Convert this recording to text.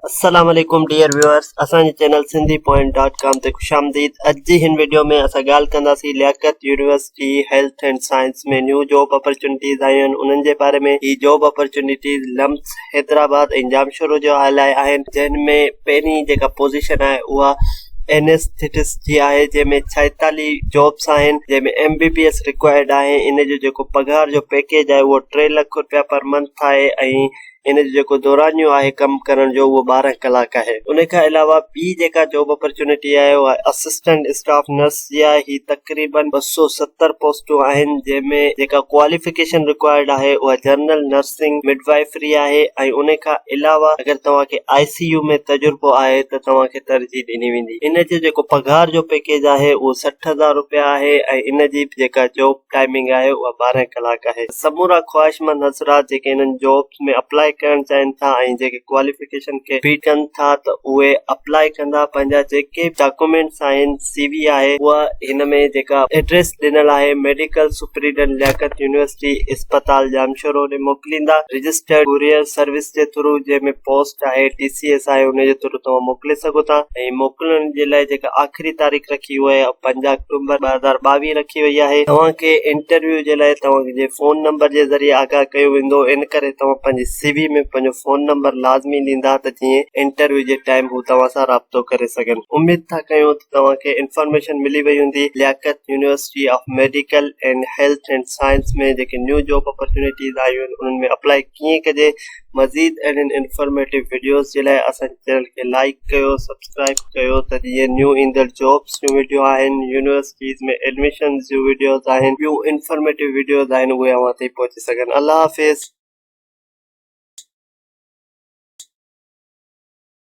السلام عليڪم dear viewers اسان جي channel Sindhi point dot com تي خوش آمديد اڄ جي هن ويڊيو ۾ اسان ڳالهه ڪنداسين Liaquat university health and science ۾ new job opportunities آيون آهن انهن جي باري ۾ هي job opportunities LUMHS Hyderabad ۽ Jamshoro جو آيل آهي آهن جن ۾ پهرين جيڪا پوزيشن آهي اها انيسٿيٽس جي آهي جنهن ۾ ڇائيتاليهه جابس آهن جنهن ۾ M B B S required آهي ان جو جيڪو پگهار جو پيڪيج آهي اهو ٽي لک روپيا پر منٿ آهي ۽ ان جو جيڪو دورانيو آهي ڪم ڪرڻ جو اهو ٻارهن ڪلاڪ آهي. ان کان علاوه ٻي جيڪا جاب اپرچونٽي آهي اها اسسٽنٽ اسٽاف نرس جي آهي. هي تقريباً ٻه سؤ ستر پوسٽون آهن جنهن ۾ جيڪا ڪواليفڪيشن رڪوائرڊ آهي اها جنرل نرسنگ مڊوائيفري آهي ۽ ان کان علاوه اگر توهان کي آء سي يو ۾ تجربو آهي ته توهان کي ترجيح ڏني ويندي. ان جو جيڪو پگهار جو پيڪيج آهي اهو سٺ هزار روپيا آهي ۽ ان جي جيڪا جاب ٽائمنگ آهي اها ٻارهن ڪلاڪ آهي سمورا خواهشمند حضرات جيڪي انهن جابس ۾ اپلاء ڪرڻ چاهين ٿا ۽ جيڪي ڪواليفڪيشن کي بيٽ ڪن ٿا ته اهي اپلاء ڪندا پنهنجا جيڪي به ڊاڪومينٽس آهن سي وي آهي اها هن ۾ جيڪا ايڊريس ڏنل آهي ميڊيڪل سپريڊنٽ لياقت يونيورسٽي اسپتال ڄامشورو ڏي موڪليندا رجسٽرڊ ڪوريئر سروس جي ٿرو جنهن ۾ پوسٽ آهي ٽي سي ايس آهي ان جي ٿرو توهان موڪلي سگهو ٿا ۽ موڪلڻ جي لاء جيڪا آخري آخري تاريخ رکي وئي آهي پنج آڪٽومبر ٻه هزار ٻاويهه رکي وئي آهي توهان کي انٽرويو جي لاء توهان جي فون نمبر جي ذريعي آگاهه ڪيو ويندو ان ڪري توهان پنهنجي سي وي ۾ پنهنجو فون نمبر لازمي ڏيندا ته جيئن انٽرويو جي ٽائيم هو توهان سان رابطو ڪري سگهن اميد ٿا ڪيون ته توهان کي انفارميشن ملي وئي هوندي Liaquat university of medical and health and science ۾ جيڪي نيو جاب اپرچونيٽيز آيون آهن انهن ۾ اپلائي ڪيئن ڪجي مزيد اهڙين انفارميٽو وڊيوز جي لاء اسان جي چينل کي لائيڪ ڪيو سبسڪرائيب ڪيو ته جيئن نيو ايندڙ جابس جون وڊيو آهن يونيورسٽيز ۾ ايڊميشنز جون وڊيوز آهن ٻيون انفارميٽو وڊيوز آهن اهي اوهان تائين پهچي سگهن الله حافظ